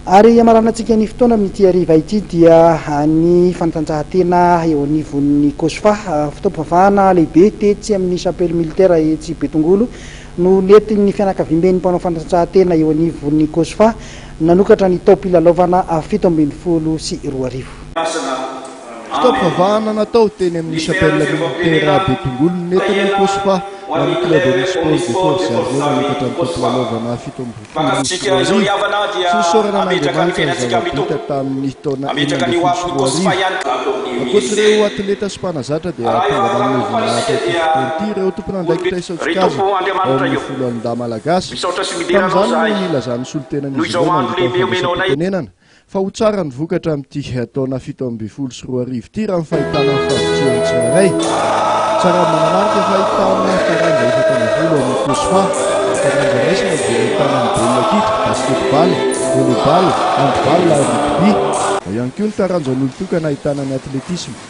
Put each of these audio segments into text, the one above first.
Ary hiamarana antsika ny fotoana amin'ity hariva ity dia ny fanatanjahantena eo anivon'ny Cosfa. Fotoam-pivavahana lehibe tetsy amin'ny Chapelle Militaire etsy Betongolo no nentin'ny fianakaviamben'ny mpanao fanatanjahantena eo anivon'ny Cosfa nanokatra ny taom-pilalaovana fito ambin'ny folo sy roa arivo. Fotoam-pivavahana natao teny amin'ny Chapelle Militaire Betongolo nentina ny Cosfa ho an'ny Club Omnisports de Force Armée nanokatra ny taom-pilalaovana fito amby roapolo sy roa arivo sy nisaorana an'Andriamanitra ny zava-bita tamin'ny taona enina ambin'ny folo sy roa arivo. Ankoatra ireo atleta sy mpanazatra dia tonga nanome voninahitra ity fotoana ity ireo tompon'andraikitra isan-tsokajiny ao amin'ny Foloalindahy Malagasy. Tamin'izany no nilazan'ny solontenan'izy ireo nandritra ny fandraisam-pitenenana. fa ho tsara ny vokatra amin'ity taona fito ambin'ny folo sy roa arivo ity raha ny fahitana ny fahavitrihany tsirairay. Tsara manamarika fa ahitana taranja efatra ambin'ny folo ao amin'ny COSFA, taranja raisina izay ahitana ny baolina kitra, basketball, volleyball, handball ary rugby. Ao ihany koa ny taranjan'olon-tokana ahitana ny atletisma.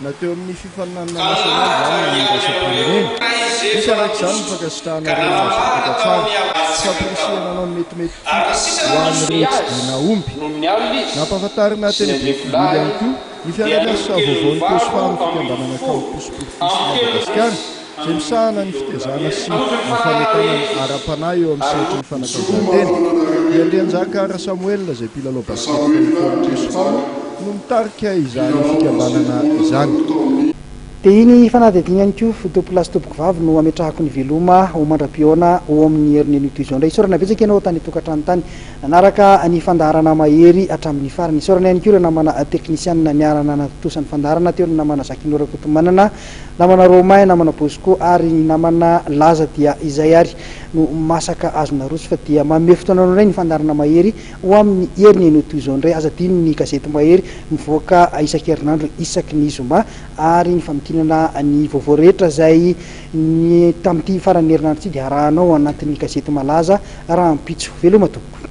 na teo amin'ny fifaninanana nasionaly izany na ny iraisam-pirenena. Misy araka izany ny fankasitrahana ireo nahazavatra tsara sy fampirisihana hanao ny metimety ho an'ireo tsy dia nahomby. Nampahafantarina teny Bougainville ihany koa ny fiaraha-miasa vaovaon'ny Cosfam, Fikambanana Campus pour tous Madagascar, Izay misahana ny fitezana sy ny fanentanana ara-panahy eo amin'ny sehatry ny fanatanjahantena, i Andrianjaka Rasamoelina izay mpilalao basikety tamin'ny taona roa sy roa no mitarika izany fikambanana izany. Dia iny fanadihadiana iny koa, Tompoko lahy sy Tompoko vavy no ametrahako ny veloma ho mandra-pihaona ho amin'ny herin'ny anio toy izao indray. Isaorana betsaka ianao tany an-tokantrano tany nanaraka ny fandaharana mahery hatramin'ny farany. Isaorana ihany koa ireo namana teknisianina niara-nanatontosa ny fandaharana teo, ny namana Jacquino Rakotomanana, Namana Romain, namana Bosco ary ny namana Laza dia izay ary no masaka azo naroso fa dia manome fotoana anao indray ny fandaharana Mahery ho amin'ny heriny ianao toy izao indray. Aza adino ny gazety Mahery mivoaka isan-kerinandro isaky ny zoma ary ny famakinana ny vaovao rehetra izay ny tamin'ity faran'ny herinandro ity dia arahanao ao anatin'ny gazety malaza rahampitso. Veloma tompoko.